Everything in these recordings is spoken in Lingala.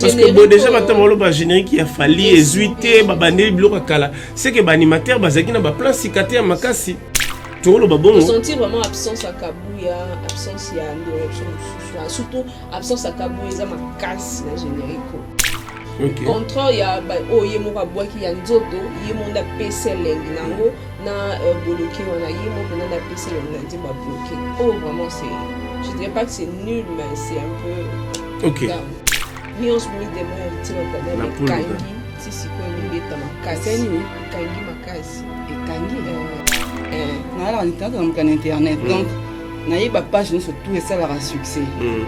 parce que bo déjà bato baloba générique ya fali ezwi te babandeli biloko ya kala seke baanimateur bazalaki na baplace sika te ya makasi toloba bongo sentir vraiment absence ya kabuya absence ya direction mosusu surtout absence ya kabuya eza makasi na générique okay. contraire ya oyo ye moko abwaki ya nzoto ye moko nde apesi elengi na yango na euh, boloke wana ye mo mpena na pesi elongo na nzembo ya bloke oyo oh, vraiment c'est je dirais pas que c'est nul mais c'est un peu ok nyonso moni demo ya litima tadala ekangi ti sikoyo elingi eta makasi ekangi makasi ekangi euh, euh. nayalaka nitata na mokana internet donc naye ba page nyonso tout esalaka succès mm.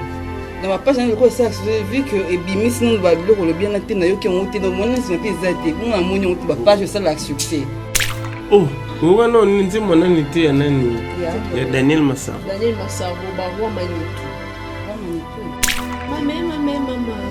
na ba page nayo esalaka succès vu que ebimisi nanu ba biloko olobi yana te nayoki yango te nomoni na nsima mpe eza te bongo namoni yango te ba page esalaka succès oh wana oni nzembo nani te ya nani ya daniel masaro daniel masaro baroi manitu mame mame mama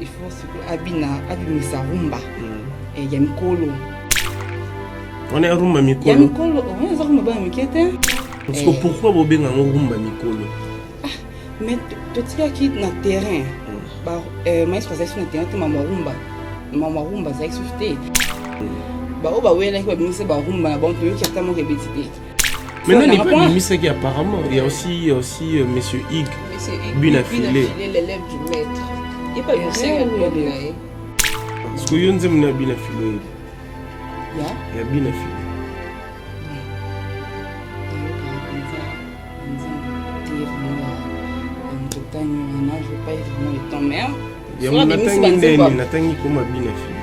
il faut sikoyo abina abimisa rumba hmm. eh, ya mikolo wana ya rumba mikolo ya mikolo oyo oh, eza rumba bana mike te siko eh. pourquoi bobenga yango rumba mikolo ah, mais totikaki na terrain hmm. eh, maestro azalaki so na terrain te mama rumba mama rumba azalaki soki te hmm. baoyo bawelaki babimisa barumba na bango toyoki ata moko ebeti te Maintenant, n'est pas Mimi Saki, apparemment. Il y a aussi, il y a aussi euh, Monsieur Hig, Bina Filet. l'élève du maître. Il n'y a pas Mimi Saki à blog là. Parce que yo nzembo na Bina Filet. Ya Bina Filet. yango natangi ndeni natangi koma bina fili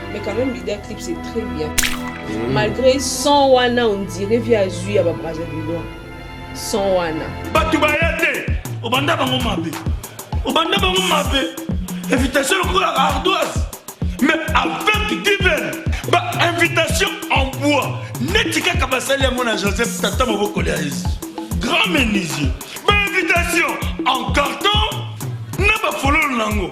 Mais quand même l'idée clip c'est très bien. Mmh. Malgré son wana on dirait via azui ya ba Brazzavillois. Son wana. Batu baya te. Obanda bango mabe. Obanda bango mabe. Invitation lokola ardoise. Mais avec divine ba invitation en bois. Neti kaka basali yango na Joseph Tata moboko ya Yesu. Grand menuisier. Ba invitation en carton na ba fololo nango.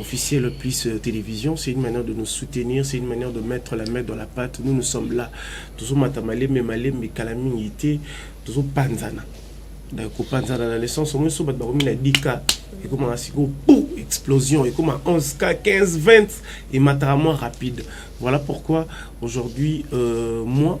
officiel plus euh, télévision c'est une manière de nous soutenir c'est une manière de mettre la main dans la pâte nous nous sommes là tozomata malembe malembe kala mingi te tozopanzana kopanzana na naissance omoi so bato bakomi na 10 cas ekomaka sikoyo pou explosion ekoma 11 cas 15 20 emataka moins rapide voilà pourquoi aujourd'hui euh, moi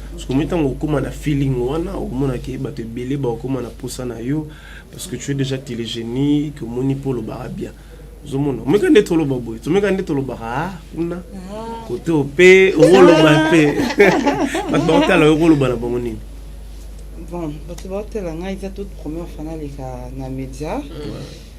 Sokomi ntango okoma na feeling wana okomona ke bato ebele bakokoma na mposa na yo parce que tu es déjà télégienique omoni mpo olobaka bien ozomona omeka nde toloba boye tomeka nde tolobaka a ah, kuna ah. kote mpe okoloba mpe bato bakotala yo okoloba na bango nini bon bato bakotala ngai eza toute première fana leka na média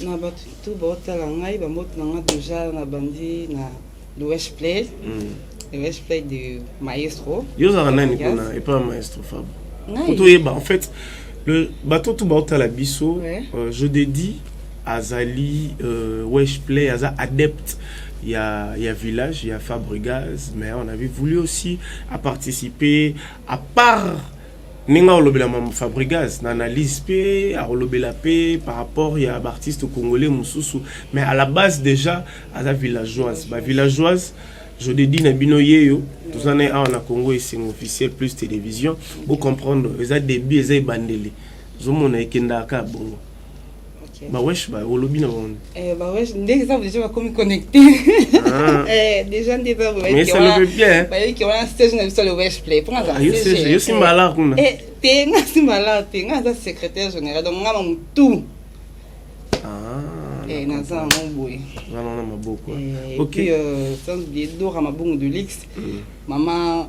na bato tu baotala ngai bambote na ngai deja nabandi na louage play mm. louage play de maestro yo ozalaka nani mpona epa ya maestro fabo kutu oyeba en fait bato tu baotala biso euh, je dedie azali euh, wesh play aza adepte il y a, il y a Village, il y a Fabregas, mais on avait voulu aussi à participer, à part ndenge akolobela mama fabrigas na analyse mpe akolobela mpe par rapport ya baartiste congolais mosusu mais à la base déjà aza villageoise bavillageoise je te dis na bino yeyo toza na ye awa na congo esengo officiel plus télévision bocomprendre eza début eza ebandeli ozomona ekendaka kaka bongo Ba wesh ba olobi na wani. Eh ba wesh ndenge ça déjà bakomi connecté. Ah. eh déjà ndenge ça ba. Mais ça le fait bien. Ba yiki wana stage na biso le wesh play. Pour nga. Yo stage, yo si malard kuna. Eh te nga si malard te nga za secrétaire général donc nga mamu tout. Ah. Eh na za ngo boye. Nga na maboko. Eh, OK. Puis euh sans oublier Dora mabongo de luxe. Mm. Maman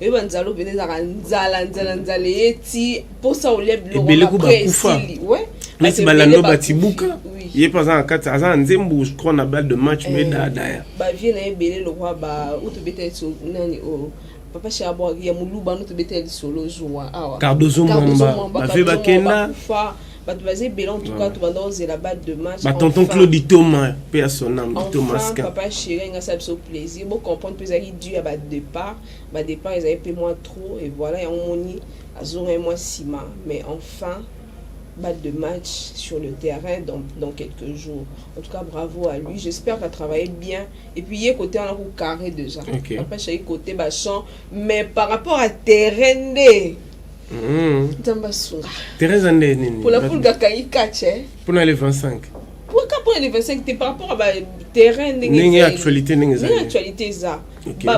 oyo banzala obele ezalaka nzala nzala nzala eye ti mposa olia bilokobelekubakufaesili neti balando batibuka ye mpe aza na kati aza na nzembo crois na bal de match me eh, dadaya bavie na ye ebele lokwa ba utobeta nani oyo papa shabwa ya moluba no tobeta ya lisolo zuwa awa cardozo mwamba bavie bakenda bato baza ebele en tout cas tobanda kozela ba de match ba tonton claude itoma mpe ya son ame itoma enfin papa chéri alingi asala biso plaisir bocomprendre mpe ezalaki dû ya badépart badépart ezali mpe mwa trop et voilà yango moni azongaki mwa nsima mais enfin balle de match sur le terrain dans, dans quelques jours. En tout cas, bravo à lui. J'espère qu'elle travaillait bien. Et puis, il est côté en carré déjà. Okay. Après, je suis côté bachant. Mais par rapport à terrain, Mm. nzambe asunga teresa nde nini pona pulga akangi catch eh? pona le 25 pourka pona le 25 te par rapport a baterrain ndenge actualité ndenge ezali actualité eza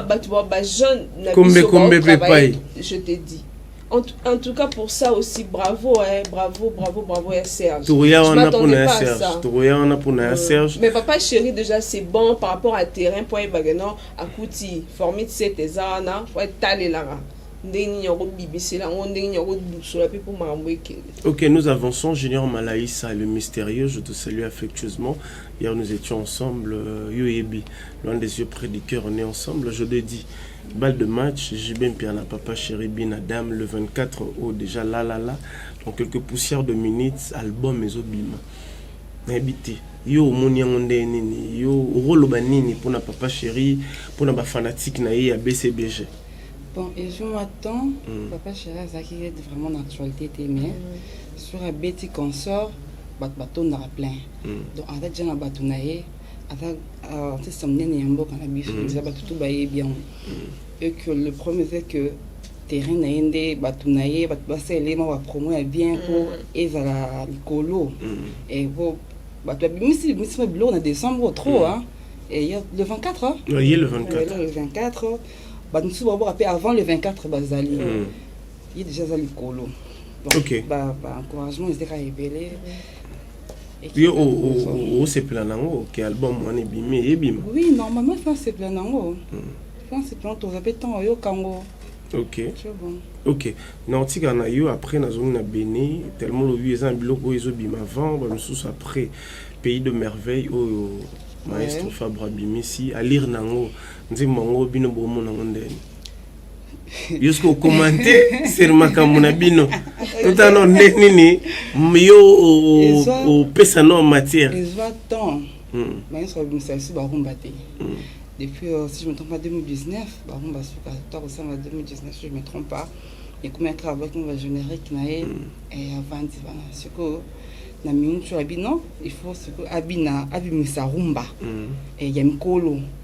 bato ba bajeune na bisokombe mpe pai je te dis En, en, tout cas pour ça aussi bravo hein, bravo bravo bravo ya Serge. Touria on a pour na Serge. Touria on a pour na Serge. Mais papa chéri déjà c'est bon par rapport à terrain pour bagano akuti formit cette ezana pour taler là. ndenge nini ya kobimisela yango ndenge nini ya kodusola mpe mpo makambo ekende ok nous avançons junior malaisa le mystérieux je te salue affectueusement hier nous étions ensemble euh, yo yebi loin des yeux près du cœur on est ensemble je te dis balle de match jb mpiana papa chéri bina dame le 24 au déjà la la la dans quelques poussières de minutes album ezobima nayebi te yo omoni yango ndenge nini yo okoloba nini mpona papa chéri mpona bafanatike na ye ya bcbg Bon, ezwi mwa temps mm. papa chéri azalaki ete vraiment na actualité te mais mm. sur abeti consort bato batondaka plein mm. donc aza deja na bato na ye aza euh, artiste monene ya mboka na biso mm. eza bato tu bayebi yango mm. et que le problème c'est que terrain na ye nde bato na ye bato basalela ye mwa bapromo ya bien mpo mm. ezala likolo mm. po bato babimisi bimisi mwa biloko na décembre trop mm. hein, et le 24 hein? oui, le 24 le 24 bato mosusu babwaka mpe avant le 24 bazali mm. ye déjà aza likolo baencouragement ezalaka ebele yo osepela nango ke album wana ebimi eyebima oui normalement efa asepela nango efa mm. asepela toza mpe ntango oyoka yango ok ok na otika na yo après nazongi na beni tellement olobi eza na biloko oyo ezobima avant bamosusu après pays de merveille oyo maestro fabre abimisi alire nango nzembo yango bino bomona ngo ndeni yo soki okomante seri makambo na bino totala no nde nini yo opesa no matière ezwa temps hmm. bayinso babimisa biso barumba te hmm. depuis euh, si je me trompe pas 2019 barumba suka to akosanga 2019 si je me trompe pas ekomaki kaka baki mova générique na ye hmm. avandi wana sikoyo na minute oyo abino il faut sikoyo abina abimisa rumba ya mikolo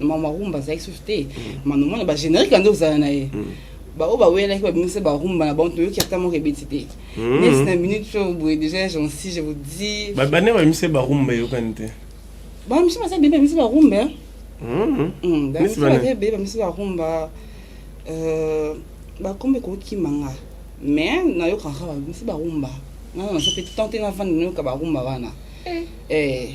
mama rumba azalaki susu te mama mwana ba générique ande ozala na ye hmm. baoyo bawelaki babimisa barumba na bango toyoki ata moko ebeti te hmm. neti na minute oyo boye déjà jansi je vous dis babane babimisa barumba eyokani te bamisi baza bebe bamisi barumba bamisi baza bebe bamisi barumba bakomba ekokima nga mais nayokaka bamisi barumba nana naza mpe tante navandi nayoka barumba wana eh. Eh.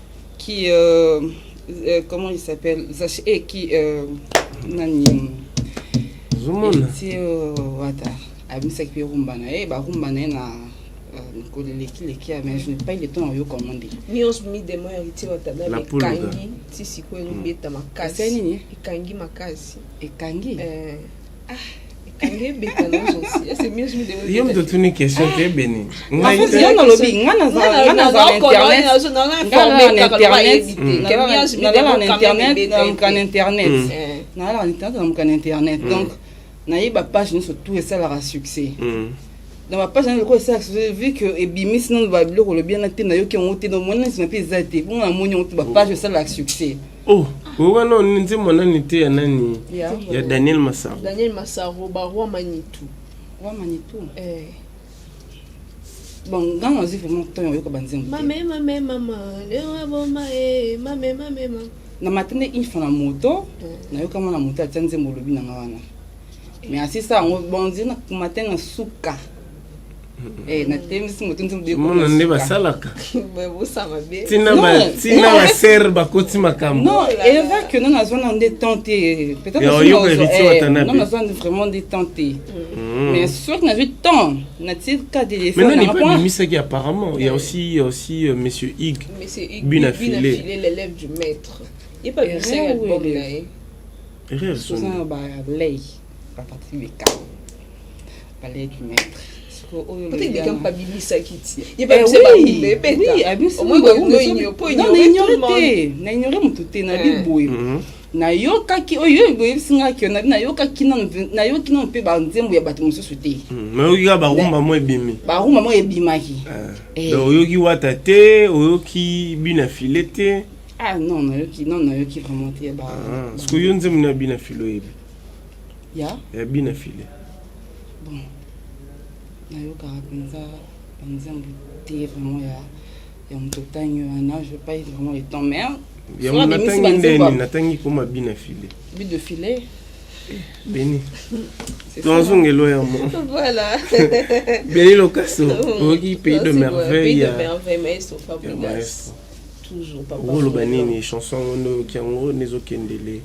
qui euh, euh, comment il s'appelle Zache et eh, qui euh, nani Zumona ti euh, wata abimisa ki rumba na ye ba rumba na ye na euh, koleleki leki mais je n'ai pas eu le temps yo comment dire nyos mi demo ya ti wata na kangi ti siko elobeta makasi nini ekangi makasi ekangi eh yo moto otuni question te ebeni ngai nalobi nga nazala na internet nalala na internet namuka na internet donc nayebi bapage nyonso tout esalaka succès mm. na bapage na lokola esalaka succès vu que ebimisi nano babiloko olobi yana te nayoki yango te donc mwana nsima mpe eza te bongo namoni yango te bapage esalaka succès Oh, wana oni nzembo nani te ya nani ya, ya daniel masaro daniel masaro baroi manitu roi manitu eh. bon ngai nazwi vraiment ntango oyoka banzembo mame mame mama lewa boma e eh, mame mame mama na mata nde une fois na moto eh. nayoka mwana moto atia nzembo olobi na ngai wana mais asisa yango bonzi na matin na suka Eh, mona nde basalaka ntina baser bakoti makambobimisaki apparemment ya aussi ya aussi euh, monsieur hig bina filet erreur Baparti meka baleki maître naignore motu te nabi boye nayokaki oyo boyebisi nga kio nabi nayokaki nayoki nano mpe banzembo ya bato mosusu te hmm, nayoki kaka barumba mo ebimi barumba mo ebimaki eh. Eh. oyoki wata te oyoki bina file te ah non nayoki non nayoki vraiment te ah, sikoyo nzembo na bina file oyebi ya ya bina file bon nayokaka mpenza banzambe te vraiment ya ya moto otangi wana je pas vraiment le temps mais yango natangi ndeni natangi koma bina file but de filet beni tozongelo ya mo voilà beni lokaso oyoki pays de merveille ya maestro toujours papa oloba nini chanson yango nde oyoki yango nde ezokendele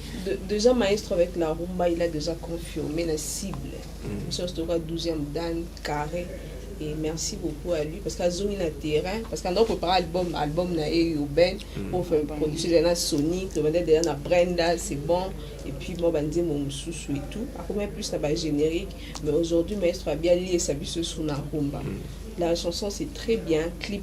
déjà maestro avec la rumba il a déjà confirmé la cible mm. biso nyonso toyoka 12e dan carré et merci beaucoup à lui parce que azongi na terrain parce que ando prépare album album na ye urbain mm. pour faire producer déjà na sonic tobanda déjà na brenda c'est bon et puis mwa banzembo mosusu et tout akomai plus na bagénérique mais aujourd'hui maestro abialiesa biso sur na rumba mm. la chanson c'est très bien clip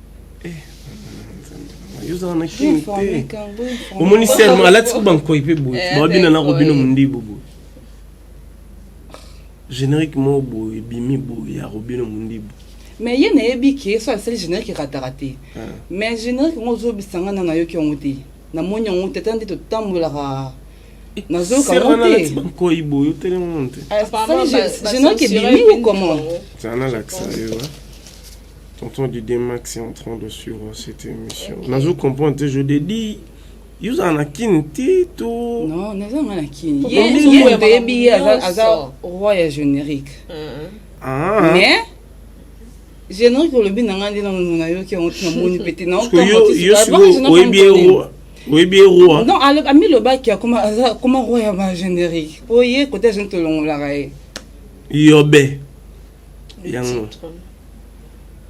yozala na kini te omoni serma alati ko bankoi mpe boye eh, babina na robino mondibu boye générique moko boye ebimi boye ya robino mondibu mais ye nayebi ke so asali générique erataka te ah. mais générique yango ozobisa ngai na nayoki yango te namoni yango te ata nde totambolaka nazoyoka yango te bankoi boye otelema te générique ebimi ou comment Tonton Didier Max est en train de suivre cette émission. Okay. Nazo comprendre te je te dis yo ozala na kini te to non naza nga na kini yemoto yebi ye aza roi ya générique ah. mais générique olobi na nga nde nano nayoki yango ti namoni mpe te naoyebi ye roi non amilobaki akoma roi ya ba générique mpo ye kote azoni tolongolaka ye yobe yango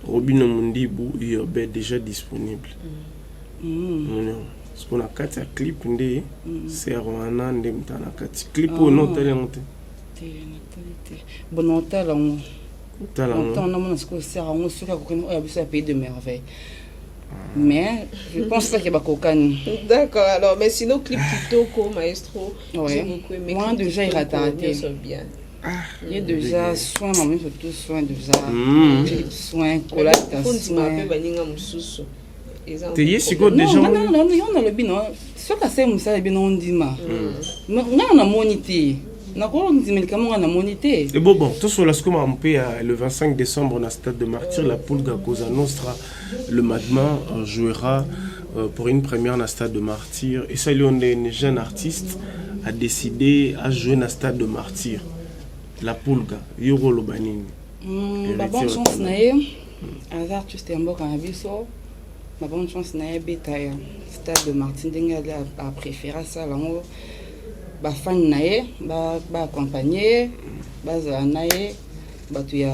robino mundibu urbe déjà disponible mm. siko na kati ya clip nde mm. ser wana nde mta na kati clip oyo oh. no otali yango te bono otala yango otala yango namona sikoyo ser yango soki akokani oyo ya biso ya pays de merveille mais je pense pas que bakokani d'accord alors mais sinon clip kitoko maestro ouais. moi déjà irata te ye deja soin na miso tu soin deja soin kolata soin baninga mosusu te ye sikoyo deja yo nalobi no soki asali mosala ebino ondima ngai namoni te nakolo ndimilika monga namoni te e bo bon tosola siko makambo mpe ya le 25 décembre na stade de martyr la pulga cosa nostra le magma euh, jouera Euh, pour une première na stade de martyr esali yo nde une jeune artiste a décidé a jouer na stade de martyr la pulga yo koloba nini hmm, babonne chance na ye aza artiste ya mboka na biso babonne chance na ye abeta ya stade de martyr ndenge ali apréféré asala yango bafani na ye baaccompagne ye bazala na ye bato ya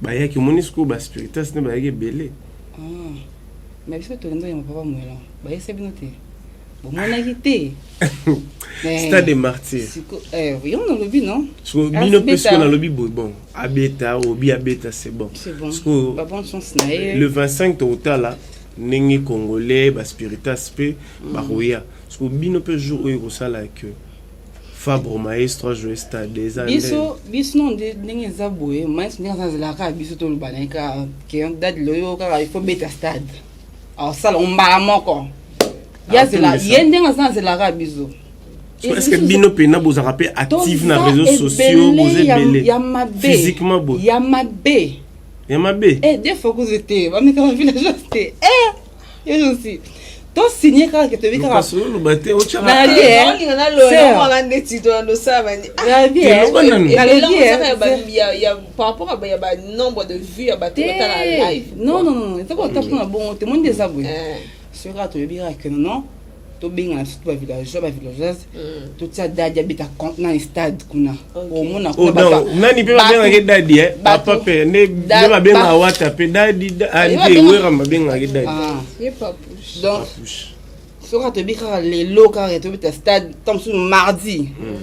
bayaki omoni sikoyo ba spiritas nde bayaki ebele ah, mais biso tolendo yango papa mwelon bayesa bino te bomonaki te eh, stade de martyr eh, yo nalobi no sikoyo bino mpe sikoyo nalobi boye bon abeta obi abeta c'est bon sikoyo le 25 tokotala ndenge congolais baspiritas mpe mm. bakoya sikoyo bino mpe jour oyo ekosala que Fabro maestro ajoue stade eza biso biso non ndenge eza boye maestro ndenge azalaka kaka biso toloba na ye kaka ke dade loyo kaka il faut beta stade asala mbala moko ye azela ye ndenge aza azelaka kaka biso est-ce que bino mpena bozalaka mpe active na réseaux sociaux boza ebele physiquement boye ya mabe ya mabe eh, des fois kuzi te bamekaka villageoise te eh, to signe kaka ke toyebi kaka soloba te otyaka non non non eza kotapona bongo te moni nde eza boye soki kaka toyebi kaka ke non tobengana surtout ba villageois ba villageoise mm. totia dadi abeta na stade kuna omona oh, nani mpe babengaki dadi eh? papa mpe nde babengaka wata mpe dadi ante ah, wera babengaki dadi ah. donc soki atoyebi kaka lelo kaka tobeta stade ntango mosusu mardi mm.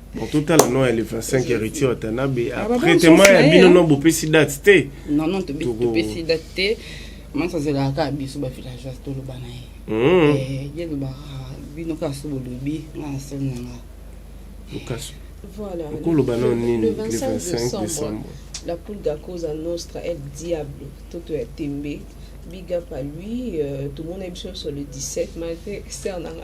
Bon, totala no ya le 25 héritier watanabe ah, après tema ya bino no bopesi date te non non topesi date te manso azelaka kaka biso bavillageoise toloba na ye hmm. eh, ye lobaka bino kaka so bolobi nga na sel na nga lukasu Voilà. Le, 25 décembre, la poule cause à Nostra est diable, tout est tombé. Big up à lui, euh, tout le monde est sur le 17, malgré Sernanga.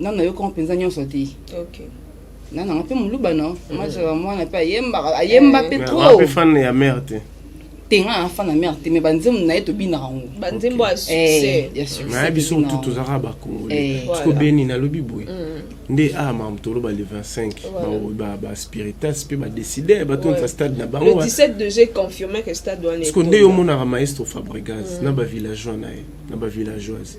nanu nayoka ngo mpenza nyonso te okay. na nanga mpe moluba no mm. mazala mwana mpe ayembaka ayemba mpe eh. trop fan ya mare te te nga na fan ya mare te mais banzembo na ye tobinaka ngo banzembo ya eh, succès biso motu tozalaka bakongole siko eh. beni nalobi boye mm. nde a ah, makambo toloba le 25 baspiritas mpe badeside batonisa stade na bango siko nde yo omonaka maestro fabregas mm. na bavillageois na ye na bavillageoise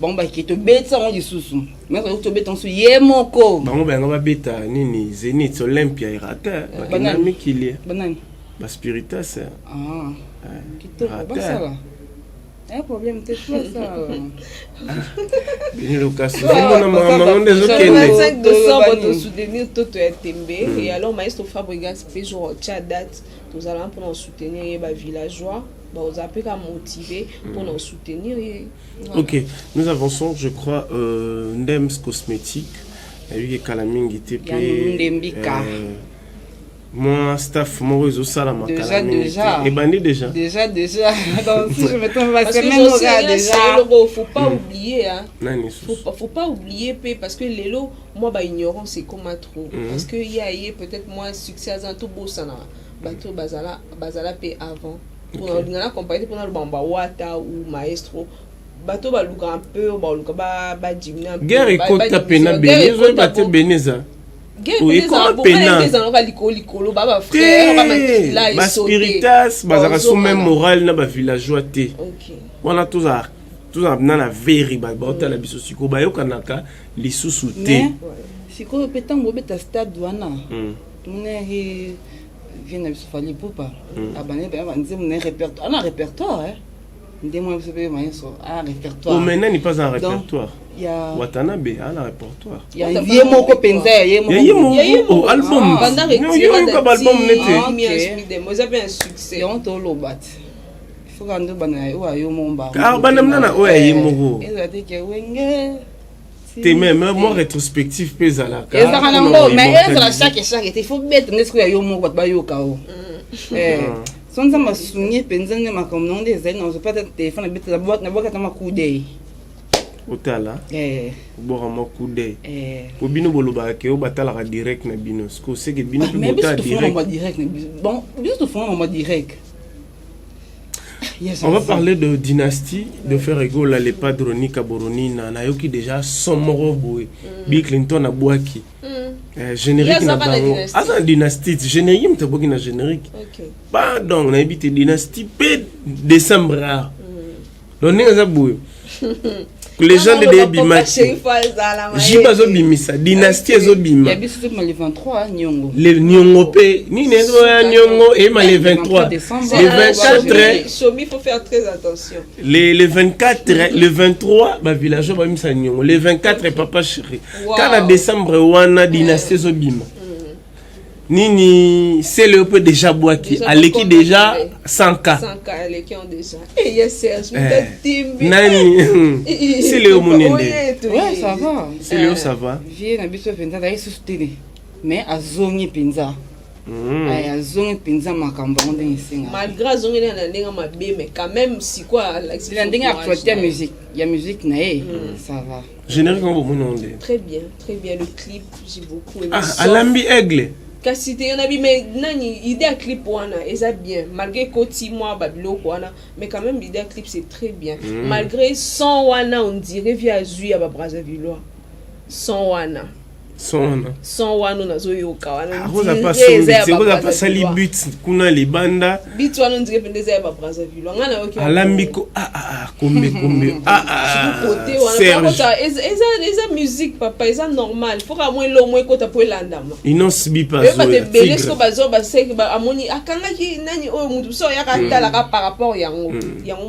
bango bake tobetisa yango lisusu meko tobeta yango ye moko bango bayango babeta nini zenith olympia erate bakenda mikili banani baspiritas ah. eh, kitoko basala eh, problème te basala bini lokasi omona mamango nde ezokende décembre tosoutenir toto ya tembe hmm. et alors maestro fabrigas mpe jour tya date tozalaka mpona soutenir ye bavillageois baoza mpe ka motive mpona hmm. soutenir ye Ok, nous avançons, je crois, euh, Ndems Cosmétique, nayoki kala mingi te pe euh, moi staff moko ezosala makala mingi te ebandi déjà déjà déjà donc si je me trompe pas c'est même oza déjà eloko faut pas mm. oublier hein nani faut, faut pas oublier pe parce que lelo moi ba ignorance ekoma trop mm. parce que ye aye peut-être moi succès aza tobosana bato bazala bazala pe avant olinga na compagnie mpona loba ba wata ou maestro bato baluka un peu baluka badimina guerre ekota pena beni ezoyeba te beni eza baspiritas bazalaka so meme morale na bavillageois te wana tozala tozala na na veri baotala mm. biso sikoyo bayokanaka lisusu te sikoyo mpe ntango obeta stade wana mm. vie na biso fali pupa mm. abandaki baya banzembo na ye répertoire ana répertoire nde mwana biso mpe mayeso ana répertoire mais nani pas en répertoire watanabe ana répertoire ye moko mpenza ya ye moko album yoyoka baalbum nete yango toloba te foka nde obanda na ye oyo ayo moko mbaa banda mna na oyo ya ye moko ezala te ke wenge te mais mais moi rétrospective pe zala ka ezaka na ngo mais ezala chaque chaque te faut bête ndesko ya yo moko ba yo kao mm. eh ah. so nzambe asungi mpenza nde makambo nango nde ezali nazo pata telefone abetela nabwakata makudei otala eh. obwaka mwa kudei eh. po bino bolobaka ke o batalaka direct na bino siko seke bino mpe ah, botala direct biso tofonga mama direct On va parler de dynastie de Ferre Gola, les padroni Kaboronina, nayoki déjà son moko boye. Mm. Bill Clinton abwaki. Mm. Euh, générique na bango. Aza dynastie, générique mtaboki na générique. Okay. Pardon, nayebi te dynastie pe décembre. Mm. donc ndenge aza boye legende de ebimaki jibe azobimisa dynastie ezobima le niongo mpe nini ezoya niongo eyema le 23 le 24 somi faut faire très attention le, le 24 le 23 bavillageois babimisa niongo le 24 papa chéri kaka décembre wana dynastie ezobima nini sele yo mpe deja bwaki aleki deja 100k nani sele yo monende sele yo sava vie na biso mpenza azali susu tele mais azongi mpenza hmm. eh, azongi mpenza makambo yango ndenge esenga malgré azongeli na ndenge mabe mais quand même sikoyo alakisi na ndenge actualité ya musique ya musique na ye hmm. ça va Générique ngo bomoni ngo nde. Très bien, très bien le clip, j'ai beaucoup aimé. Ah, alambi aigle. kasi te yona bi mais nani idée ya clip wana eza bien malgré koti mwa babiloko wana mais quand même idée ya clip c'est très bien mm. malgré son wana on dirait vi azwi ya babrasavillois son wana son wana son wana nazoyoka wana ah, pasali but kuna libanda but wana ondire mpenza eza ya babrazzaville wanga nayoki alambi ko ah, ah, kombe kombe kote wana eza musique papa eza normal fo ka mwa elongo ekota mpo elandama inonce bipaoyebata ebele siko bazo baseki amoni akangaki nani oyo motu mosusu ayaka atalaka mm. par rapport yango mm. yango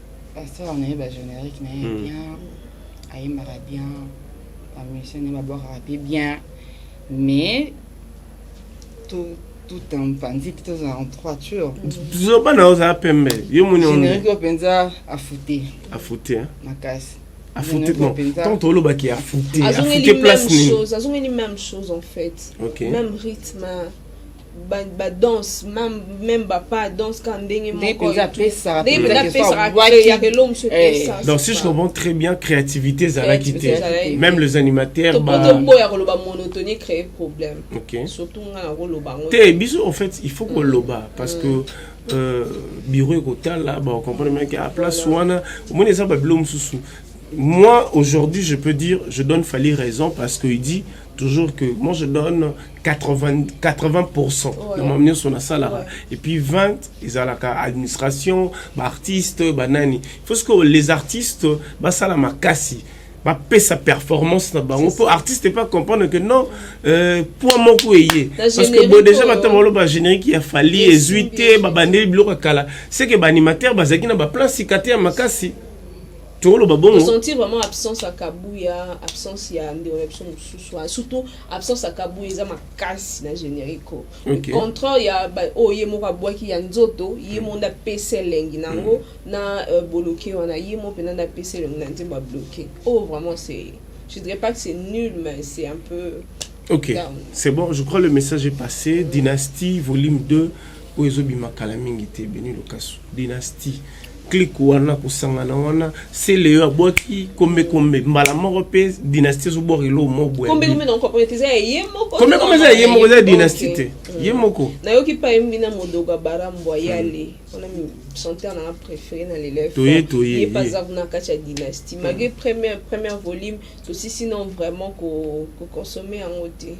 Pasteur on a eu ba générique na ye hmm. bien, ayembaka bien, ba musiciens na babwakaka pe bien, mais tout tout un panzi tout en droiture. Zoba na oza pembe, yo moni on. Générique yo penza afute. Afute hein. Makasi. Afute bon. Tant toloba ki afute, afute place ni. Azongeli même chose en fait. Okay. Même rythme. ba, ba danse meme ba pas danse ka ndenge moko donc si je comprends très bien créativité ezalaki te même les animateurs toboya koloba monotonie créer problème okay. surtout nga nakoloba yango te biso en fait il faut koloba mm. parce que mm. euh, bureau ekotala baocomprendre bien ke aplace wana omoni eza babilo mosusu moi aujourd'hui je peux dire je donne fali raison parce qu'il dit toujours que moi je donne 80, 80% voilà. na mamu nyonso nasalaka ouais. et puis 20 ezalaka administration baartiste banani faut ce que les artistes basala makasi bapesa performance na bango mpo artiste epa comprendre que non euh, poids moko eye parce que bo déjà bata baloba générique ya fali ezwi te babandeli biloko ya kala c'est que baanimateur bazalaki na baplan sika te ya makasi tokoloba bongo sentir vraiment absence ya kabuya absence ya ndeko na biso mosusu surtout absence ya kabuya eza makasi na generico okay. contraire ya oyo oh, ye moko abwaki ya nzoto ye mm. moko nde apesi elengi na yango mm. na uh, boloke wana ye moko mpenza nde apesi elengi na nzembo ya bloke oyo oh, vraiment c'est je dirais pas que c'est nul mais c'est un peu ok c'est bon je crois le message est passé dynastie volume 2 oyo ezobima kala mingi te beni lokasu dynastie clique wana kosangana wana sele yo abwaki kombe kombe mbala moko mpe dynastie ezobwaka eloo moboyekombe eza ya ye moko eza dynastie te mm. ye moko nayoki mpe ayembi na modoga bara mbwa yale mm. wana chanteur nanga préféré na leletoye toye ye mpe aza kuna kati ya dynastie mm. malgré première première volume tosisi non vraiment koconsomme yango te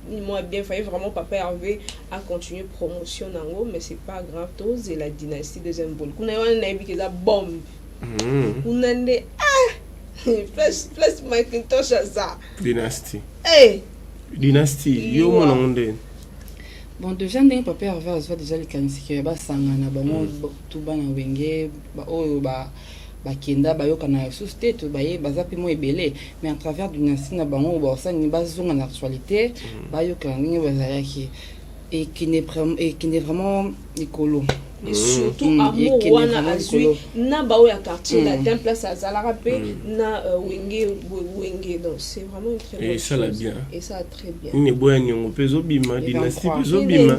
ni moi bien faye vraiment papa Hervé a continuer promotion nango mais c'est pas grave tous et la dynastie deuxième boule kuna wana nayebi que eza bombe mm. kuna nde ah plus plus Macintosh aza dynastie hey. Eh! dynastie yo mwana ngo nde bon déjà ndenge papa Hervé azwa déjà likanisi que basangana bango mm. tout bana wenge baoyo ba, oyo, ba bakenda bayokana lisusu te to baye baza mpe mwa ebele mais à travers dynastie na bango baosani bazonga na actualité mm. bayokana ndenge bazalaki ekende vraiment likolo et mm. surtout mm. amour wana azwi na baoyo ya quartier mm. latin place azalaka mpe mm. na euh, wenge wenge donc c'est vraiment une très bonne chose et ça la bien et ça nini eboya niongo mpe ezobima dynastie mpe ezobima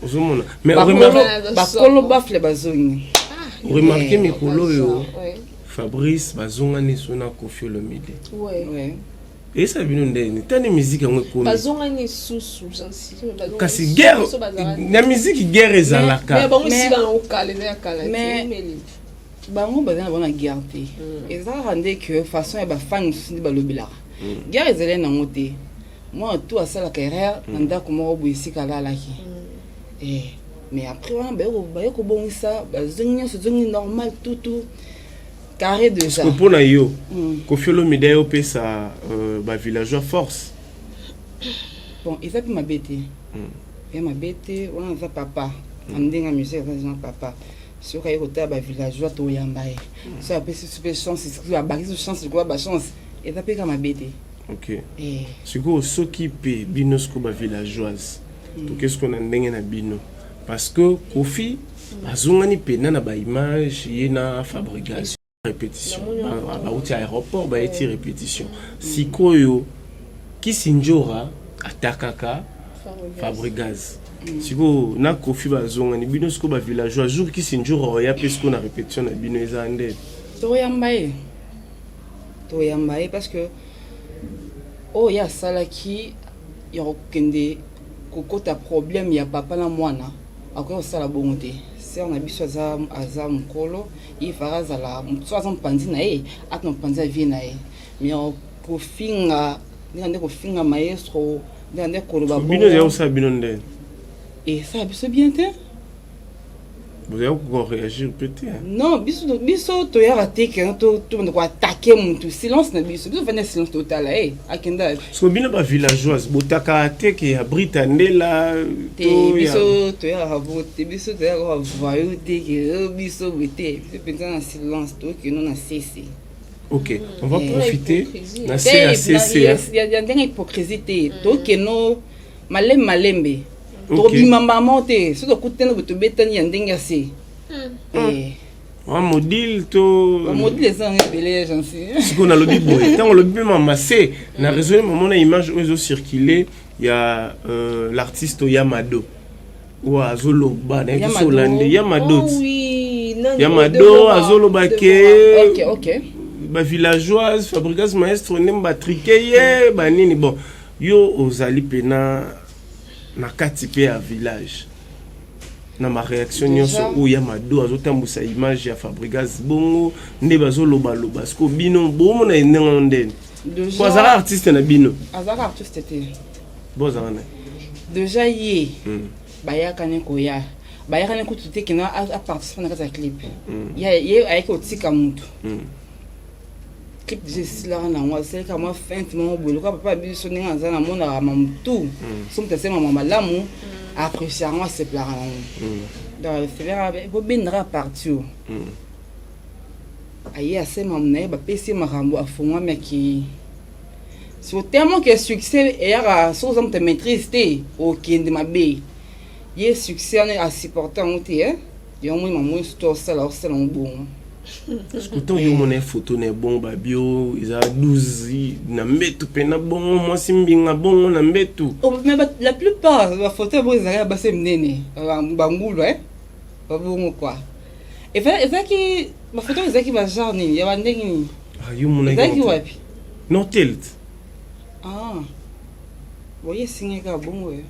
ozomona mais bakolo bafle bazongi ah, remarke eh, mikolo oyo fabrice bazonga neso na kofi olomide eyesa bino ndeni tani miziki yango ekomikasi guerre na miziki guerre ezalaka bango baza na bana guerre te mm. eza kaka nde que façon ya bafani mosusu nde balobelaka mm. guerre ezali nango te mwana tu asalaka erreur na mm. ndako moko boye esika alalaki eh, mais après wana baye kobongisa bazongi nyonso ezongi normal tutu carré déjà mpo na yo kofiolo mida yo opesa euh, bavillageois force bon eza mpe mabe te ya mabe te wana aza papa na ndenge ya musike aza papa soki aye kotala ba villageois toyamba ye hmm. soki apesi biso mpe chance abakisi biso chance likola ba chance eza mpe ka mabe te ok eh. sikoyo soki mpe bino siko ba villageoise hmm. toke siko na ndenge na bino parce que kofi hmm. azongani mpena na baimage ye na fabrigation repetition bauti aéroport bayeti eh. repetition sikoyo kisinjora atakaka fabrigaz mm. sikoyo na kofi bazongani bino sikoyo bavillageois jour kisinjora oya mpe sikoyo na repetition na bino eza nde toyamba ye toyamba ye parce que oyo ye asalaki ya kokende kokota problème ya papa na mwana akoki kosala bongo te sere na biso aza, aza mokolo Iva azala moto so aza mopanzi na ye atna mopanzi ya vie na ye me kofinga ndeka nde kofinga maestro ndeka nde koloba bino ezali kosala bino nde esala biso bien te bozali kokoreagir mpe te non biso biso toyaka te kena tobanda koatake motu silence na biso biso fanda silence totala e akenda so bino ba villageoise botaka teke ya brita ndela biso toyaka bote biso toyaka kaka vayo teke oh, biso bote biso mpenza na silence tokino na sese ok on va eh, profiter na cacc ya ndenge hypocrisie te tokeno malembe malembe tokobima mbamo te soki tokutani boye tobetani ya ndenge ya se hmm. eh. Ah, modile to modile eza yango ebele ya jansi sikoyo nalobi boye ntango olobi mpe mamase na raisonne mamona image oyo ezocircule ya euh, l'artiste oya mado oyo azoloba na ezosola nde ya mado oh ya mado azoloba ke bavillageoise fabricas maestro nde batrike ye banini bon yo ozali mpena na kati mpe ya village na ma réaction nyonso oyo ya mado azotambusa image ya fabrigas bongo nde bazolobaloba siko bino bomona ye ndenge no ndeni po azalaka artiste na bino azalaka artiste te bozalaka na deja ye hmm. bayakani koya bayakani kutu te kena aparticipe na kati ya clip hmm. ye ayaki kotika motu hmm. clip déjà esilaka nango asalaka mwa fente moko boye lokola papa yabi biso ndenge aza namonaka mamutu mm. so moto asali mama malamu mm. apprecie yango aseplaka nango mm. donc felaka bobendaka parti o aye asema na ye bapesi ye makambo afungwami akei soki tellement ke succès eyaka soki oza moto ya maîtrise te okende mabe ye succès wana asupporte yango te eh? yango moi mamoi soki osala osala yango bongo sikuta oyo omona ye foto na ebongo babio eza 12 na mbetu mpe na bongo mwasi mbinga bongo na mbetu oh, la plupart bafoto ya bongo ezalaka ya basi minene bangulu e babongo kua ezalaki bafoto ezalaki bagenre nini ya bandenge nini ah, ezalaki wapi nortelt ah. boye esingaka bongo yo eh.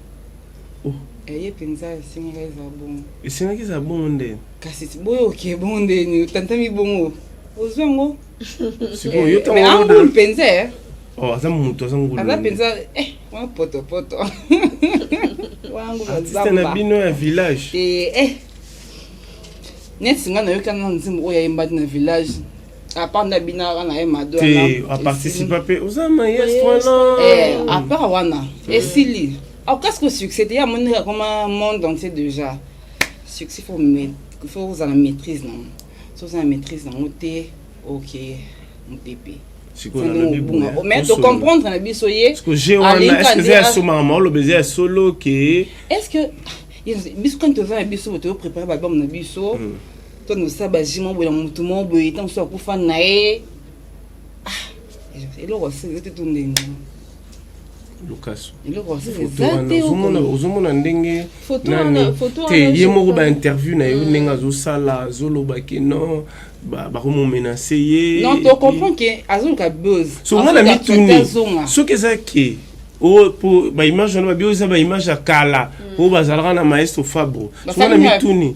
Eye penza esengaki ezala bongo. Esengaki ezala bongo nde. Kasi boye oke bongo nde ni otantami bongo. Ozwa ngo. Siko yo tango. Mais angulu mpenza. Eh. Oh, aza mutu aza ngulu. Aza mpenza eh wa poto poto. Wangu bazamba. Artiste na bino ya village. Eh eh. Neti nga nayoki na nzembo oyo ayembaki na village. apart na binaka na ye mado te aparticipa mpe oza maestro na eh, apart wana esili akasi kosuccéde ye amoni akoma monde entier déjà succès fo fo ozala maîtrise nango so oza na maîtrise nango te oke mopepe mais tocomprendre na biso ye asomaka maoloba eza ya solo ke est ce que biso kani toza na biso toyo prépare baalbum na biso mm. to nosala baji moko boye na motu moko boye ntango mosusu akufa na ye eloko asete to ndenge lukasu ozomona ndenge te ye moko bainterview na yo ndenge azosala azoloba ke non bakomomenase ye songa na mituni soki eza ke oyo po baimage wana babi oyo eza baimage ya kala oyo bazalaka na maestro fabro songa na mituni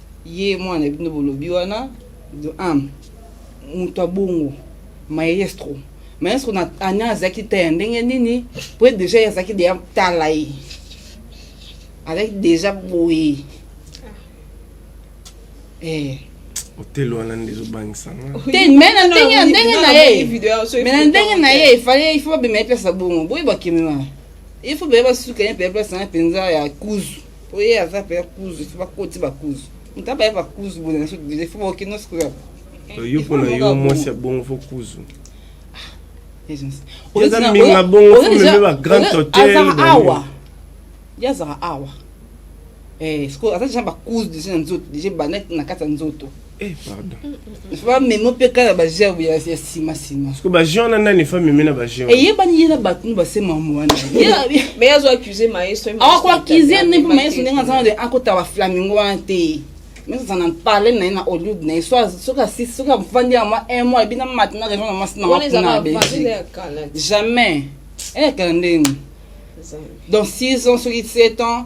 Ye mwana na bino bolobi wana de am moto abongo maestro maestro na ana azalaki ta ya ndenge nini po ye deja ye azalaki deya tala ye azalaki deja boye eh. otelo wana nde ezobangisa te me na ndenge na ndenge na ye me na ndenge na ye efale ifo babema ye place ya bongo boye bakemema ifo beye basuka ye mpe place na ye mpenza ya kuzu oye aza mpe kuzu fo bakoti bakuzu moto abaya bakuzu boye na sodile fo baoke nyonso koya yo mpo na yo mwasi ya bongo fo kuzu oza mbinga bongo fo meme ba grand hotel awa ye azaka awa eh, sikoyo aza deja bakuzu deja na nzoto deja ebanda na kati ya nzoto Eh, pardon. Ba memo pe kala ba jeu ya ya sima sima. Parce que ba jeu na nani fa meme na ba jeu. Et ye bani yela ba tunu ba se mamu wana. Mais yazo accuser maestro. Ah quoi accuser ne pe maestro nenga zana de akota ba flamingo wana te. Mais ça n'en parle na na Hollywood na soit soka si soka vandi ya moi un mois bina matina raison na mas na na Belgique. Jamais. Eh kala ndenge. Donc 6 ans, 7 ans,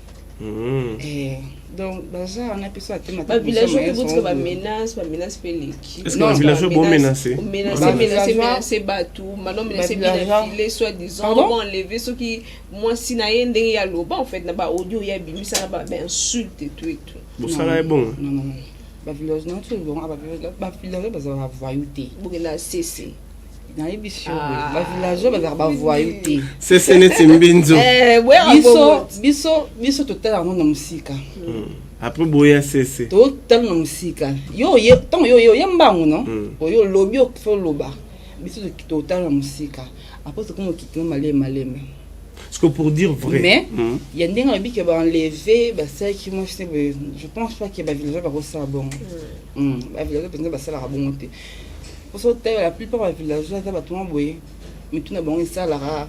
Eh, donc baza wana mpe so atema ba village oyo botika ba menace ba menace mpe leki est-ce que ba village bo menacer menacer menacer menacer bato maintenant menacer bien filer soit disant ba enlever soki mwasi na ye ndenge ya loba en fait na ba audio ya bimisa na ba insulte tout et tout bosala ye bongo non non non ba village na biso ebongo ba village bazalaka vayu te bokela sese nayebisi yo ah. bavillageois bazalaka bavoyu te sese neti mbinzo eh, biso biso biso totala yango na mosika hmm. apres boya sese totala na mosika yo ntango yo oye mbangu no hmm. oyo olobi okoki oloba biso totala na mosika apres tokoma okitino maleme maleme ce que pour dire vrai mais hmm. il y a des gens qui ont enlevé bah ça qui moi je je pense pas que bah villageois va ça bon bah villageois peut-être bah ça la bon Poso tayo la plupart ba villageois za bato mwa boye mitu na bango esalaka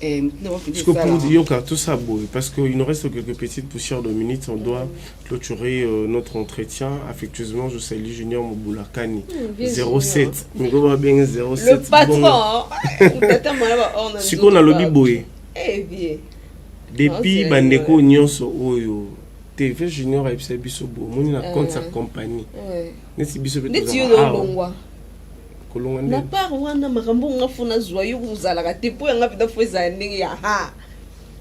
eh, mitu na bango mpenza Parce que pour esalaka. Dioka, tout ça, boy, parce qu'il nous reste quelques petites poussières de minutes, on doit clôturer euh, notre entretien. Affectueusement, je salue Junior Moboulakani. vieux 07. Miko va bien Le 07. patron, Bon. hein. Tata mwana ba orna Siko nzoto na lobi ba- boye. Eh, vieux. Depuis Ah, bandeko c'est- nyonso oyo TV Junior ayebisa biso bo moni na compte sa compagnie. Ouais. neti biso mpe neti yo olongwa kolonga nde na part wana makambo oyo nga fo nazwa yo kozalaka te mpo yanga mpenza fo ezala ndenge ya ha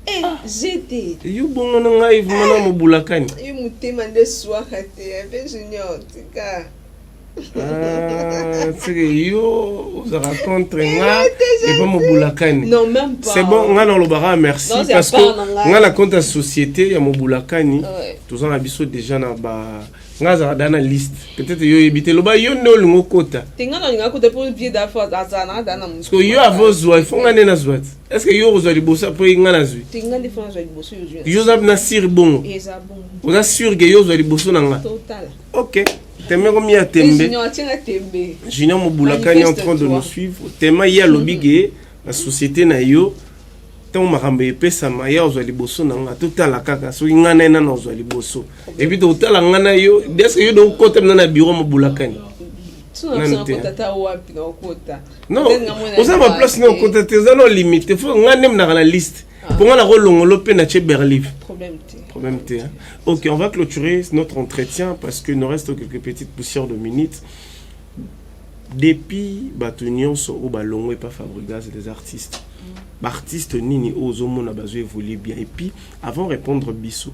eh, ah. jete yo bongo na ngai vraimen na mobulakani yo motema nde swaka te mpe junior tika ah, seke yo ozalaka contre eh, nga epa mobulakani c'est bon nga nalobaka merci parce que nga na compte ya société ya mobulakani toza na biso déjà na ba nga azala da na liste peut-être yo oyebi te loba yo nde olingi okota te nga nalinga kota mpo vie dafo azala na da na mosko yo avo ozwa ifo nga nde nazwa ti est ce que yo okozwa liboso mpo nga nazwi te nga nde fo nazwa liboso yo oza na sire bongo oza sure ke yo ozwa liboso na nga ok teme komi ya tembe junior mobulakani en train de nous suivre tema ye alobi ke na société na yo ntango makambo epesama ye ozwa liboso na nga totala kaka soki ngai na ye nana ozwa liboso Et puis totala nga na yo, est-ce que yo donc kota na bureau mobulakani? Non, oza ma place na okota te, oza na limite. Faut nga nde mnaka na liste. Ah. Pour nga na ko longolo pe na che berlive. Problème te. Problème te. Hein? OK, on va clôturer notre entretien parce que nous reste quelques petites poussières de minutes. Depuis bato nyonso oyo balongwe epa fabrigas des artistes mm. baartiste nini oyo ozomona bazo évolue bien et puis avant répondre biso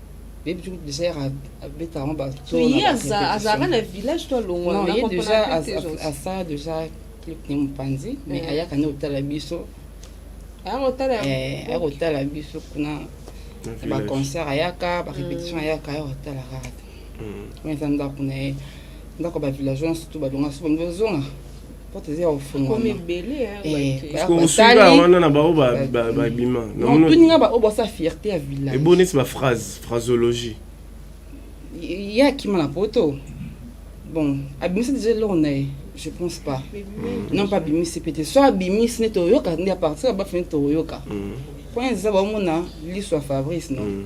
yebi tu déjà yaka abetaka ngo batoye azalaka na village to alongwa ye déjà asala déjà clip ne mopanzi mais ayaka nde kotala biso aya kotala biso kuna baconcert ayaka barépétition ayaka aya kotala kaka te wana eza ndako na ye ndako bavillageois surtout balonga so balingi ozonga osunga wana na baoyo babima tuninga baoyo basa fierté ya village ebo neti baphrase phrasologie ye akima na poto bon abimisa deja eloko na ye je pense pas mm. non pas abimisi mpe te so abimisi nde toyoka nde apartir ya bafini tokoyoka mm. point eza baomona liso ya fabrice non mm.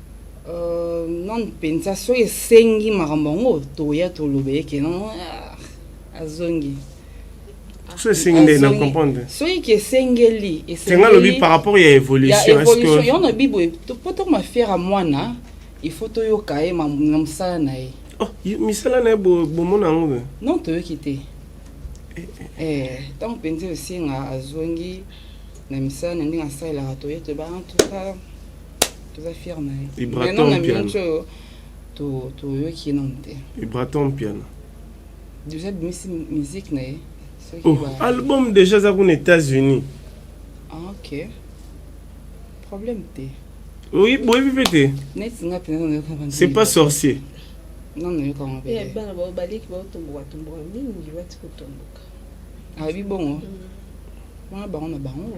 Euh, non penza soki esengi makambo yango toya toloba ye ke non ah, azongi so esengi nde na comprendre soki ke esengeli esenga lobi par rapport ya évolution ya évolution yo na bibo po to mafiera mwana il faut toyoka ye na mosala na ye oh misala na ye bomona yango be non toyoki te eh, eh. eh ntango mpenza osenga azongi na misala na ndenge asalelaka toye toyeba en tout cas toza fier na ye ibraton na minute oyo toyoki ye nanu te ibraton mpiana déjà abimisi musique na ye oh, album déjà aza kuna états-unis ah, ok problème te oyi boyebi mpe te neti nga mpenza nayoka c'est pas sorcier non nayoka ngo mpe bana bao baleki baotomboka tomboka mingi bati kotomboka ayebi bongo mm. wana bango na bango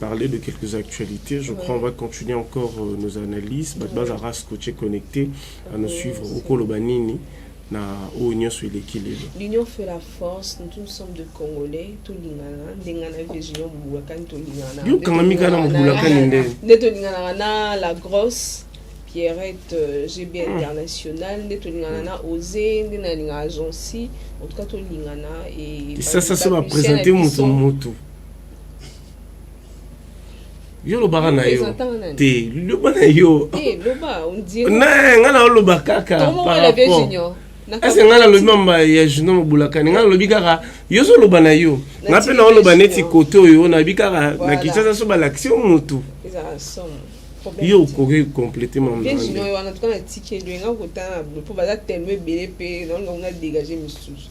parler de quelques actualités. Je crois qu'on va continuer encore euh, nos analyses. Badbaza Ras Coaché connecté à nous suivre au Kolobanini. na oyo nyonso eleki lelo l'union fait la force nous sommes de congolais tolingana ndenge na vision mobulakani tolingana yo kangami kaka na mobulakani nde nde tolinganaka na la grosse pierrette euh, gb hmm. international nde tolingana na ose nde nalingaka jonsi en tout cas tolingana e sasa so bapresente moto moto yo lobaka na yo te loba na yo eh, ngai naoloba kaka ese ngai nalobi mamba ya junior mobulakani ngai nalobi kaka yo ozoloba na yo ngai mpe naoloba neti kote oyo nayebi kaka na kinshasa so balakisi yo motu yo okoki complete mambaoyo wana tuka natikeli yo enga kotana mpo baza telema ebele mpe naolinga kuna dégage misusu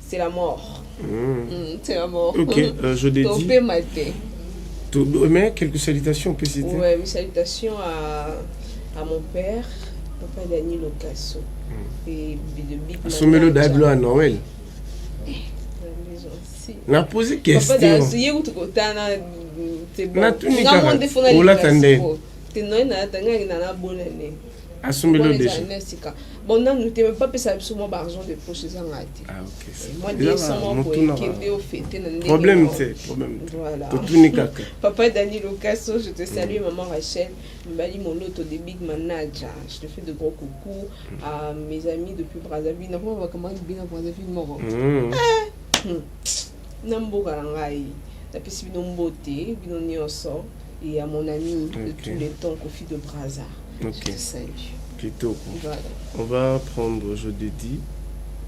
c'est la mort mmh. Mmh, c'est la mort ok euh, je l'ai dit matin tout mais quelques salutations on peut citer ouais mes salutations à à mon père papa Dani Locasso mmh. et de big asomelo dablo à Noël eh, na posi question natunika olata nde te noye nalatangaki na nabonane asumbeli yo deja na sika bon nanu te me bapesaka biso mwa baargent de poche eza ngai te ah, eh, mwa desamokende ofete na ndeproblème te problème voilà totuni kaka papa dani locaso je te salue mm. maman rachel mbali moloto de big manaja je te fais de gros coucou mm. à mes amis depuis brazzaville nakomabaka mwa bino brazzaville moko mm. eh, hmm. na mboka na ngai napesi bino mbote bino nyonso ya mon ami okay. de tous les temps kofi de braza okay. salut kitoko voilà. on va prendre aujourd'hui dit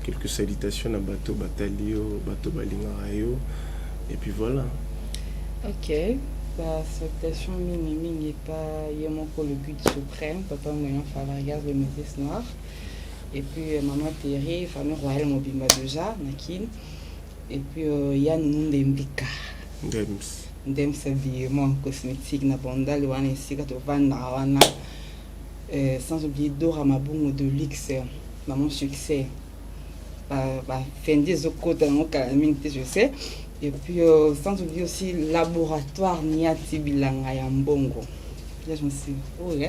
quelques salutations na bato batali yo bato balingaka yo et puis voilà ok ba salutation mingi mingi epa ye moko le but suprême papa moyen fabrigas le métis noir et puis euh, maman terry famille royale mobimba déjà na kin Et puis euh, ya nunu nde mbika ndems ndems habillement cosmétique na bandale wana esika tovandaka wana euh, sans oublier dora mabongo de luxe maman succès bafendi ezokota yango kala mingi te je sais et puis euh, sans oublier aussi laboratoire niati bilanga ya mbongo là je me suis dit, oh là,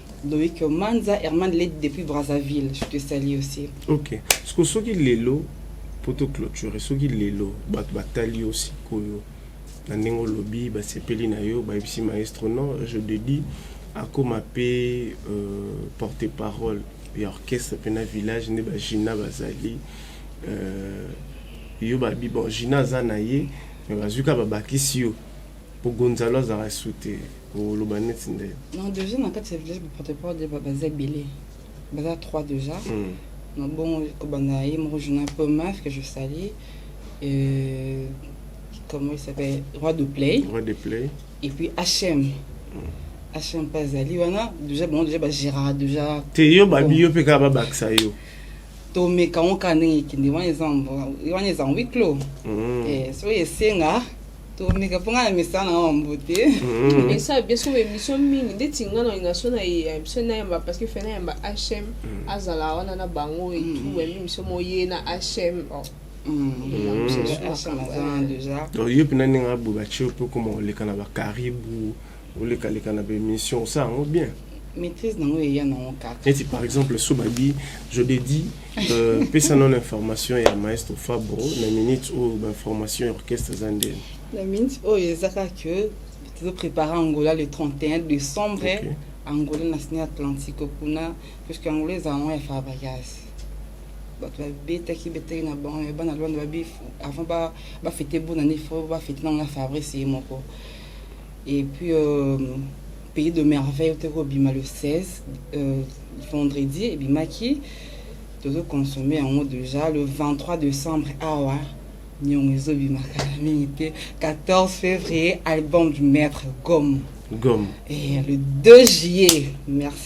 Loïc Manza, Herman Led depuis Brazzaville, je te salue aussi. Ok. Ce que soki lelo poto clôture, soki lelo bat batali aussi koyo. Na nengo lobby ba sepeli na yo ba ibisi maestro non, je te dis akoma pe euh, porte parole ya orchestre pe na village ne ba Gina bazali euh, yo ba bi bon Gina za na ye mais bazuka ba bakisi yo po gonzalo azalaka su te oloba neti nde non deja na kati ya village baprotoport de baza ebele baza trois deja mm. na bongo kobanda ye moko journal po maf que je sali euh, comment il s'appelle roi de play roi de play et puis hm mm. action mpe azali wana deja bango deja bagéraka deja te yo babi yo mpe kaka babakisa yo tomeka yango kaka ndenge ekende wana eza wana eza huit clos soki esenga tomeka mpo ngai na mesa na wa mbo te mm-hmm. esa biso emission mingi ndeti ngai na olinga so na emission nayamba parce que fe nayamba hm mm. azala wana na bango etu mm. yambi miso moye na hm mm. yo mpe nani ngai bobatie mpe okoma koleka na bakaribu oleka leka na ba émission osala yango bien maîtrise nango eya nango kaka neti par exemple so babi je de dit euh, pesa nono information ya maestro fabro na minute oyo bainformation ya orchestre eza ndeni na minute oyo eza kaka ke tozoprépare angola le 31 décembre okay. angola na sine atlantique kuna puisque angola eza yango ya fabrigas bato babetaki betaki na bango ya bana lwanda babi avant bafete bonani fo bafete nango na fabrice ye moko Et puis euh, pays de merveille ote kobima le 16 euh, vendredi ebimaki tozo consommer yango déjà le 23 décembre awa ah niongo ezobima kala mingi te 14 février album du maître gomme gomme et le 2 juillet merci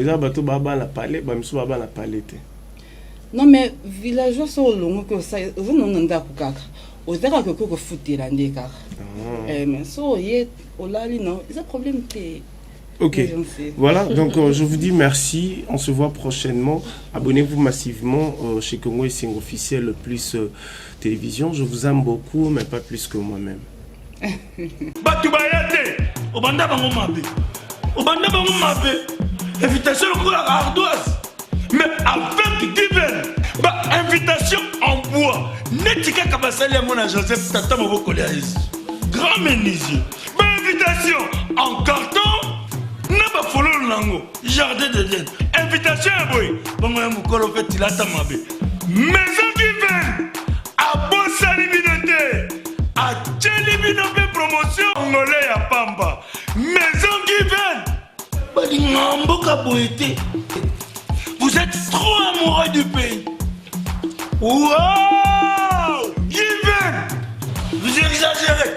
eza bato babala pale bamisu babala pale te non mais villageois so olongo ke oza nonga ndako kaka oza kaka okoki kofutela nde kaka ah. eh, mais so oye olali no eza problème te Ok, voilà, donc euh, je vous dis merci, on se voit prochainement. Abonnez-vous massivement euh, chez Congo et Sing Officiel plus euh, Télévision. Je vous aime beaucoup, mais pas plus que moi-même. bato baya te obanda bango mabe obanda bango mabe invitation lokola ardoise mais avec diven ba invitation en bois neti kaka basali yango na joseph tata moboko lya yesu grand menuisier ba invitation en carton na bafololo na yango jardin de den invitation ya boye bongo ya mokolo mpe tilata mabe maison kiven abosani bino te atyeli bino mpe promotion ngole ya pamba maison kiven balinga mboka boye te vous êtes trop amoureux du pays wow kiven vous exagérez